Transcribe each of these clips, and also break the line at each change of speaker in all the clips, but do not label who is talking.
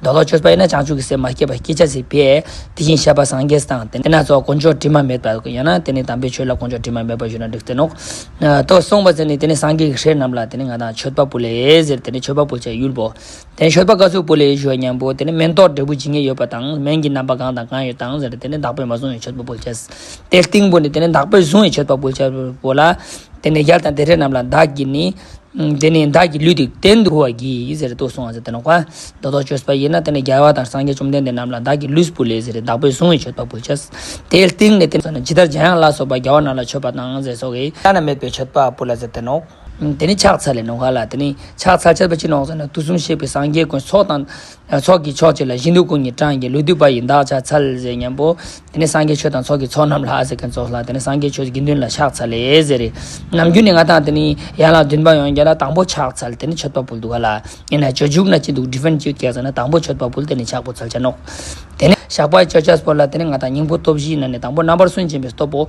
མདོ་ལོག་ཆོས་པ་ཡིན་ན་བྱང་ཆུབ་ཀྱི་སེམས་མ་སྐྱེས་པར་སྐྱེ་བྱ་སྲིད་པས། དེ་བཞིན་གཤེགས་པ་སངས་རྒྱས་དང་དེ་ན་རྫོགས་དཀོན་མཆོག་དྲི་མ་མེད་པ། ཡང་ན་དེ་ནི་དམ་པའི་ཆོས་ལ་དཀོན་མཆོག་དྲི་མ་མེད་པར་ཞུ་ན་འགྲིག་ཟེར་ནོ། དོ། གསུངས་པ་ཟེར་ནས་དེ་ནི་སངས་རྒྱས་ཀྱི་ཞེས་རྣམས་ལ་དེ་ནི་ང་དང་མཆོད་པ་པོ་ལས་ཟེར་དེ་ནི་མཆོད་པ་པོ་བྱ་ཡུལ་བོ། དེ་ནི་མཆོད་པ་བཀའ་ཟུར་བོ་ལས་ཞུ་བ་སྙམ་པོ་དེ་ནི་སྨན་རྟོག་འབྲས་བུ་ཇི་སྙེད་ཡོད་པ་དང་སྨན་གྱི་རྣམ་པ་གང་དང་གང་ཡོད་དང་ཟེར་དེ་ནི་བདག་པོས་མ་བཟུང་བའི་མཆོད་པ་པོ་བྱ། དེའི་སྟེང་བུ་ནི་དེ་ནི་བདག་པོས་བཟུང་བའི་མཆོད་པ་པོ་བྱ། བོ་ལ། དེ་ནས་ཡར་དང་དེ་རེ་རྣམས་ལ་བདག་གིས་ནི། དེ་ནས་བདག་གི་ལུས་འདུག་སྟེ་འདུལ་བར་གྱིས་ཟེར་དུ་གསུངས་ཟེར་དེ་ནས་བཀའ་མདོ་དོགས་གཅོད་པ་ཡིན་ན་དེ་ནས་རྒྱལ་བ་དང་སངས་རྒྱས་བཅོམ་ལྡན་འདས་རྣམས་ལ་བདག་གི་ལུས་སུ་བུ་ལས་ཟེར་བདག་པོས་བཟུང་བས་མཆོད་པ་འབུལ་བྱ། དེའི་སྟེང་ནས་དེ་ལ་ཇི་ལྟར་འཇམ་དབྱངས་ལ་སོགས་པ་རྒྱལ་བ་རྣམས་ལ་མཆོད་པ་དང་ཟས་སོགས་ཀྱིས། བླ་ན་མེད་པའི་མཆོད་པ་འབུལ་ལ་ཟེར་དེ་ནོ། དེ་ནས་ཕྱག་འཚལ་ལས་ནོ་ག་ལ་དེ་ནས་ཕྱག་འཚལ་བྱས་པ་ཅི་ནོ་ཟེར་ན་དུས་གསུམ་གཤེགས་པའི་སངས་རྒྱས་ཀུན་ཚོགས་དང། ཚོགས་ཀྱི་མཆོག་ཅིག་ལ་གཞི་འདུས་ཀུན་གྱི་གྲངས་ཀྱི་ལུས་འདུས་པ་ཡི་འདག་ཆ་ཚ་ལས་ཟེར་སྙམ་པོ། དེ་ནས་སངས་རྒྱས་ཆོས་དང་ཚོགས་ཀྱི་ཚོགས་རྣམས་ལྷ་ཟེར་མཁན་ཚོགས་ལྷ་དེ་ནས་སངས་རྒྱས་ཆོས་དགེ་འདུན་ལ་ཕྱག་འཚལ་ལས་ཟེར་རེ། ནམ་རྒྱུན་ནི་ང་དང་དེ་ནི་ཡན་ལག་བདུན་པ་ཡང་རྒྱ་ལ་དང་པོ་ཕྱག་འཚལ་དེ་ནི་མཆོད་པ་འབུལ་འདུག་ག་ལ་ཡིན་ན་ཇོ་ཇུག་ན་ཅི་འདུག Different Cute སྐད་ཟེར་ན་དང་པོ་མཆོད་པ་འབུལ་དེ་ནི་ཕྱག་འབུལ་ཚལ་ཆ་ནོག། དེ་ནས་ཞགས་པ་ཡི་མཆོད་ཆ་སྤོར་ལ་དེ་ནི་ང་དང་སྙིང་པོ་སྟོབས་བཞིའི་ནང་ནས་དང་པོ་རྣམ་པར་སུན་འབྱིན་པའི་སྟོབས་པོ།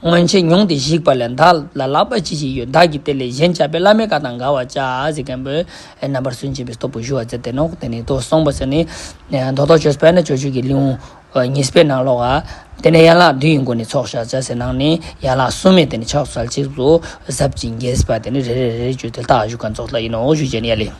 སྔོན་ཆད་མྱོང་སྟེ་བཤིག་པ་ལས་བདག་ལ་ལག་པ་ཅི་ཞིག་ཡོད་བདག་གིས་དེ་ལས་གཞན་བྱ་བའི་བླ་མའི་བཀའ་དང་འགལ་བར་བྱ། ཟེར་མཁན་པོས་རྣམ་པར་སུན་འབྱིན་པའི་སྟོབས་པོ་ཞུ་བ་མཛད་དེ་ནོག་དེ་ནི་མདོ་གསུངས་པ་ཟེར་ནས། མདོ་ཐོག་ཆོས་སྤེལ་ན་ཆོས་སྤྱོད་ཀྱི་ལེའུ་ཉི་སྤེལ་ནང་ཀློག། དེ་ནས་ཡན་ལག་བདུན་ཡི་མགོ་ནས་ཚོགས་བཤགས་བྱ་ཟེར་ནང་ནས་ཡན་ལག་སུམ་མེད་དེ་ནས་ཕྱག་བསལ་ཚིགས་སུ་གཟབ་ཅིང་རྒྱས་ཟེར་བ་དེ་ནི་རེ་རེ་རེ་རེ་བརྗོད་དེ་རྟགས་བཞུགས་ཀ་རྫོགས་ལྟར་ཡིན་ནོ་ཞུ་བྱས་ནས་ཡ་ལེ།